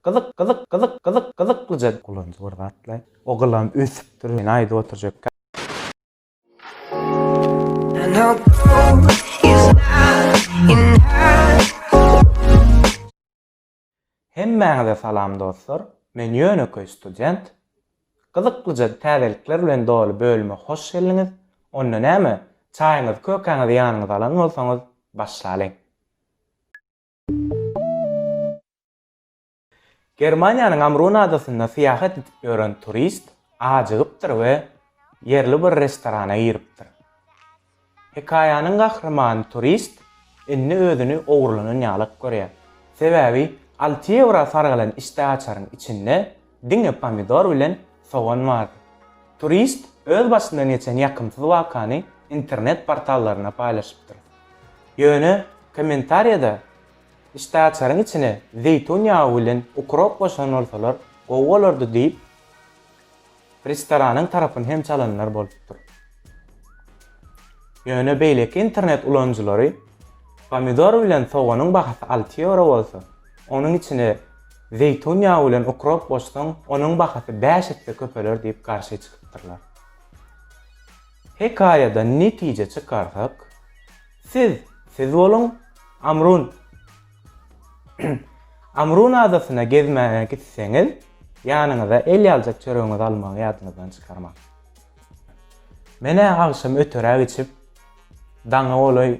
Gyzyk gyzyk gyzyk gyzyk gyzyklyja. Gulanjy bir zatly. Ogulam ösüpdir men aýdyp oturjak. Hemmäňize salam dostlar men ýönekeý student gyzyklyja täzelikler bilen doly bölüme hoş geldiňiz onda näme çaýyňyzy kökäňizi ýanyňyza alan bolsaňyz başlalyň. Germaniýanyň Amrun adasynda syýahat edip ýören turist ajygypdyr we ýerli bir restorana giripdir. Hekaýanyň gahrymany turist indi özüni ogurlanan ýalak görýär. Sebäbi alty ýewra sargylan içde açaryň içinde diňe pomidor bilen sogan bardy. Turist öz başyndan geçen ýakymsyz wakany internet portallaryna paýlaşypdyr. Ýöne kommentariýada Işdäaçaryň içine zeýtun ýagy bilen ukrop goşan bolsalar gowy bolardy diýip, restoranyň tarapyny hem çalanlar bolupdyr. Ýöne beýleki internet ulanyjylary pomidor bilen soganyň bahasy alty ýewro bolsa, onuň içine zeýtun ýagy bilen ukrop goşsaň, onuň bahasy bäş esse köpeler diýip garşy çykypdyrlar. Hekaýadan netije çykarsak, siz siz boluň, Amrun Amrun adasyna gezmäge gitseňiz, ýanyňyza el ýaljak çöregiňizi almagy ýadyňyzdan çykarmaň. Men-ä agşam öteräk içip, daňa golaý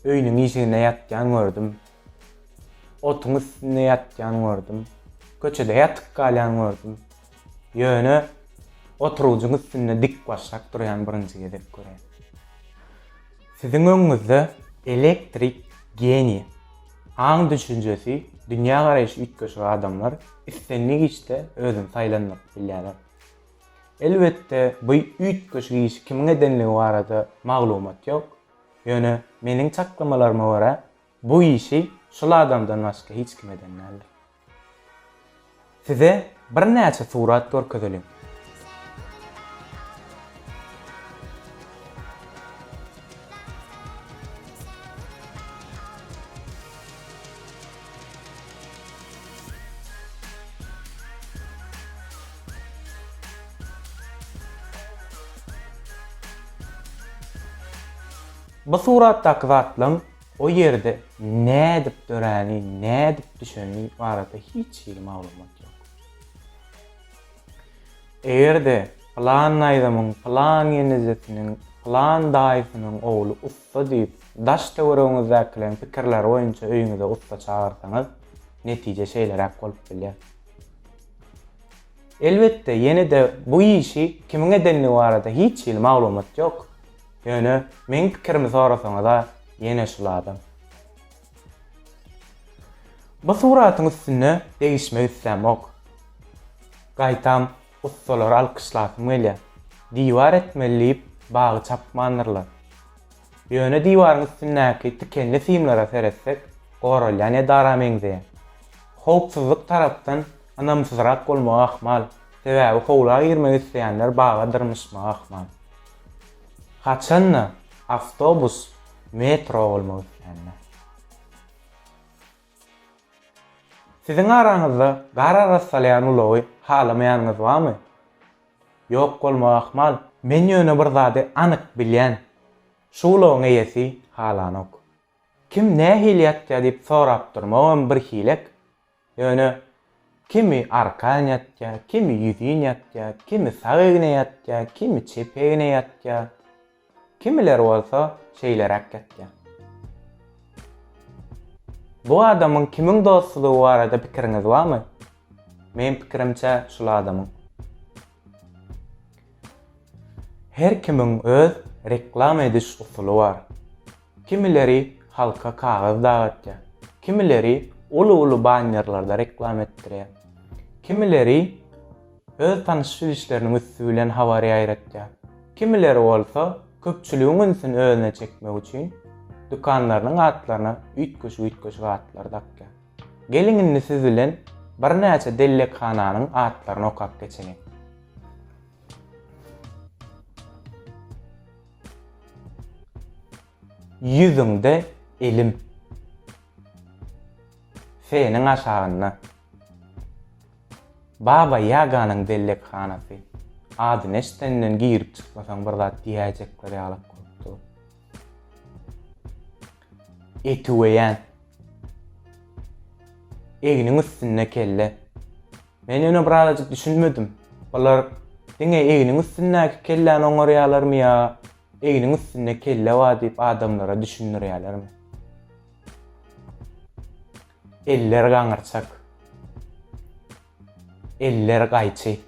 öýüniň işiginde ýatýan gördüm, otuň üstünde ýatýan gördüm, köçede ýatyp galýan gördüm, Ýöne oturgyjyň üstünde dikbaşak durýan birinji gezek görýän. Siziň öňüňizde elektrik geniý, aň-düşünjesi, dünýägaraýşy üýtgeşik adamlar islendik işde özüni saýlandyryp bilýärler. Elbetde, bu üýtgeşik işi kimiň edenligi barada maglumat ýok, ýöne meniň çaklamalaryma görä, Bu işi şul adamdan başga hiç kim eden däldir. Size birnäçe surat görkezeliň. Bu suratdaky zatlaň O ýerde nädip döräni, nädip düşeni barada hiç hili maglumat ýok. Eger-de pylan naýzamyň pylan ýenizesiniň pylan daýysynyň ogly ussa diýip, daş-töweregiňizdäkileriň pikirleri boýunça öýüňize ussa çagyrsaňyz, netije şeýleräk bolup bilýär. Elbetde, ýene-de bu işi kimiň edendigi barada hiç hili maglumat ýok. Ýöne meň pikirimi sorasaňyza ýene şul adam. Bu suratyň üstünde degişmek islämok. Gaýtam ussalary alkyşlasym gelýär. Diwar etmeli diýip bagy çapmandyrlar. Ýöne diwaryň üstündäki tikenli simlere seretsek goralýan edara meňzeýär. Howpsuzlyk tarapdan ynamsyzrak bolmagy ahmal, sebäbi howla girmek isleýänler baga dyrmyşmagy ahmal. Haçanda awtobus, metro bolmak isländä. Siziň araňyzda gar aras salýan ulagy halamaýanyňyz barmy? Ýok bolmagy ahmal. Men ýöne bir zady anyk bilýän, şu ulagyň eýesi halanok. Kim nähili ýatýar diýip sorap durmagam bir hilek. Ýöne kimi arkan ýatýa, kimi ýüzin ýatýa, kimi sag egne ýatýa, kimi çep egne ýatýa, kimiler bolsa şeýleräk ýatýa. Bu adamyň kimiň dostudygy barada pikiriňiz barmy? Meň pikirimçe şul adamyň. Her kimiň öz reklama ediş usuly bar. Kimileri halka kagyz dagatýar, kimileri uly-uly bannerlerde reklam etdirýär, kimileri öz tanyşyp bilişleriniň üsti bilen habar ýaýratýar, kimileri bolsa köpçüligiň ünsüni özüne çekmek üçin dükanlarynyň atlaryna üýtgeşik-üýtgeşik atlar dakýar. Geliň indi siz bilen birnäçe dellekhananyň atlaryny okap geçeliň. Ýüzüňde elim. Seniň aşagynda. Baba Ýaganyň bellekhanasy. Adyny eşdenden girip çykmasaň bir zat diýäýjekler ýalyk bolup dur. Etüweýän. Egniň üstünde kelle. Men ýöne birazajyk düşünmedim. Bular diňe egniň üstündäki kelläni oňarýarlarmy ýa egniň üstünde kelle bar diýip adamlara düşündirýärlermi? Eller gaňyrçak. Eller gaýçy.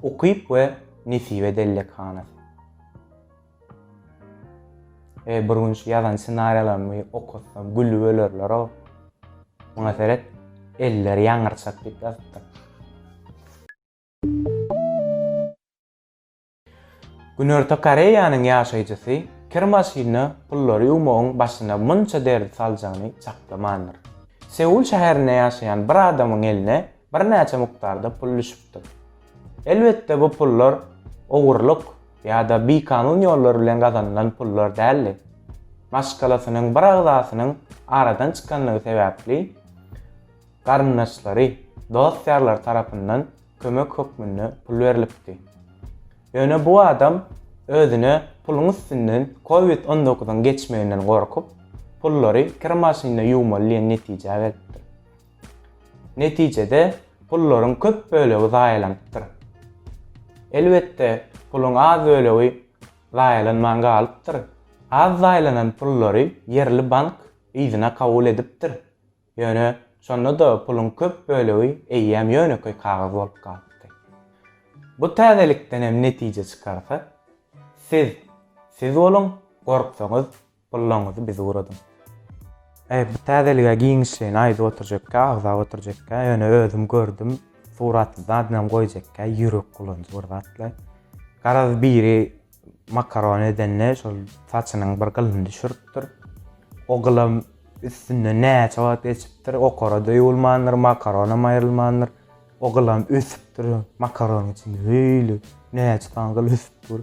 Ukyp we Nesibe dellekhanasy. Eý bir gün şu ýazan ssenariýalarymy okasam gülüp ölerleroo. Muňa seret, elleri ýaňyrçak diýip ýazypdyr. Günorta Koreýanyň ýaşaýjysy kir maşynyna pullary ýuwmagyň başyna munça derdi saljagyny çaklamandyr. Seul şäherinde ýaşaýan bir adamyň eline birnäçe mukdarda pul düşüpdir. Elbetde bu pullar ogurlyk ýa-da bikanun ýollar bilen gazanylan pullar däldi. Maşgalasynyň bir agzasynyň aradan çykanlygy sebäpli garyndaşlary, dost-ýarlary tarapyndan kömek hökmünde pul berlipdi. Ýöne bu adam özüne puluň üstünden covid on dokuzyň geçmeginden gorkup, pullary kir maşynynda ýuwmaly diýen netijä gelipdir. Netijede, pullaryň köp bölegi zaýalanypdyr. Elbetde, puluň az bölegi zaýalanman galypdyr. Az zaýalanan pullary ýerli bank yzyna kabul edipdir. Ýöne, şonda-da puluň köp bölegi eýýäm ýönekeý kagyz bolup galypdy. Bu täzelikden hem netije çykarsa, siz, siz boluň, gorksaňyz, Pullaňyzy bizi uradyň. Eý bu täzelige giňişleýin aýdyp oturjakka agzap oturjakka ýöne özüm gördüm suratly zadynam goýjakka ýürek bulanjy bir zatlar. Garaz biri makaron edende şol saçynyň bir gylyny düşüripdir. O gylam üstünden näçe wagt geçipdir okarada ýuwulmandyr makaronam aýrylmandyr. O gylam ösüpdir makaronyň içinde öýli näçe sany gyl ösüp dur.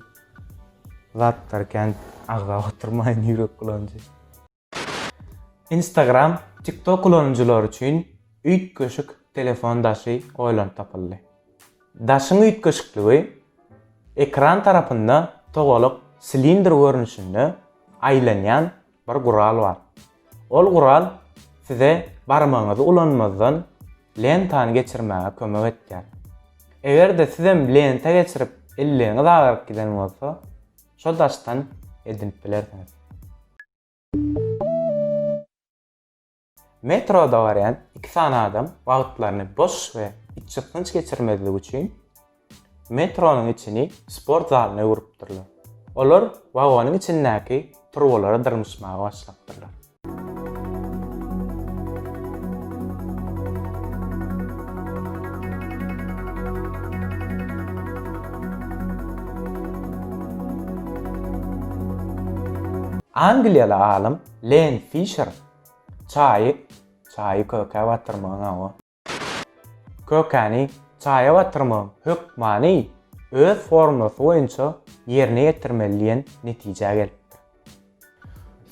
Zatlar kän agzap oturmaýyn ýürek bulanjy. Instagram, TikTok ulanyjylary üçin üýtgeşik telefon daşy oýlanyp tapyldy. Daşyň üýtgeşikligi, ekran tarapynda togalak silindr görnüşinde aýlanýan Bir gural bar. Ol gural size barmagyňyzy ulanmazdan lentany geçirmäge kömek etýär. Eger-de sizem lenta geçirip elleňiz agaryp giden bolsa, şol daşdan edinip bilersiňiz. Metroda barýan iki sany adam wagtlaryny boş we içgysgynç geçirmezlik üçin, metronyň içini sport zalyna öwrüpdirler. Olar wagonyň içindäki turbalara dyrmyşmaga başlapdyrlar. Angliýaly alym Len Fişer Çaýy, çaýy kökä batyrmagyň hawa. Kökäni çaýa batyrmagyň hökmany öz formulasy boýunça ýerine ýetirmeli diýen netijä gelipdir.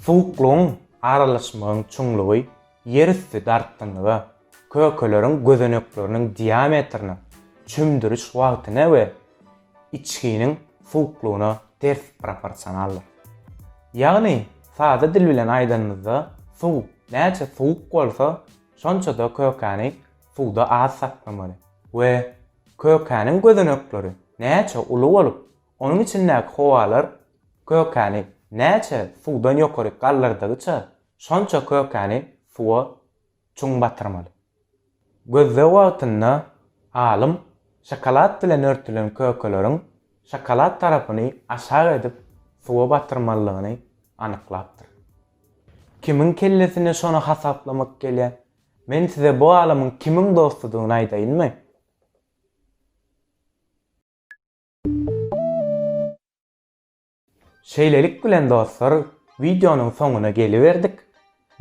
Suwuklygyň aralaşmagyň çuňlugy ýerüsti dartgynlyga Kökeleriň gözenekleriniň diametriniň çümdüriş wagtyna we içginiň suwuklygyna ters proporsionaldyr. Ýagny, sada dil bilen aýdanymyzda, suw näçe suwuk bolsa, şonça-da kökäni suwda az saklamaly we kökäniň gözenekleri näçe uly bolup, onuň içindäki howalar kökäni näçe suwdan ýokary galdyrdygyça, şonça kökäni suwa çuň batyrmaly. Gözleg wagtynda alym şokolad bilen örtülen kökeleriň şokolad tarapyny aşak edip suwa batyrmalydygyny anyklapdyr. Kimiň kellesine şony hasaplamak gelýä? Men size bu alymyň kimiň dostudygyny aýdaýynmy? Şeýlelik bilen dostlar wideonyň soňuna geliberdik.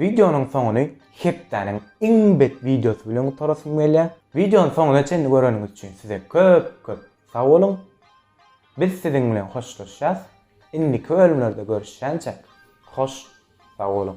Wideonyň soňuny hepdäniň iň bet wideosy bilen gutarasym gelýär. Wideony soňuna çenli göreniňiz üçin size köp köp sag boluň. Biz siziň bilen hoşlaşýas. Indiki bölümlerde görüşýänçäk hoş sag boluň.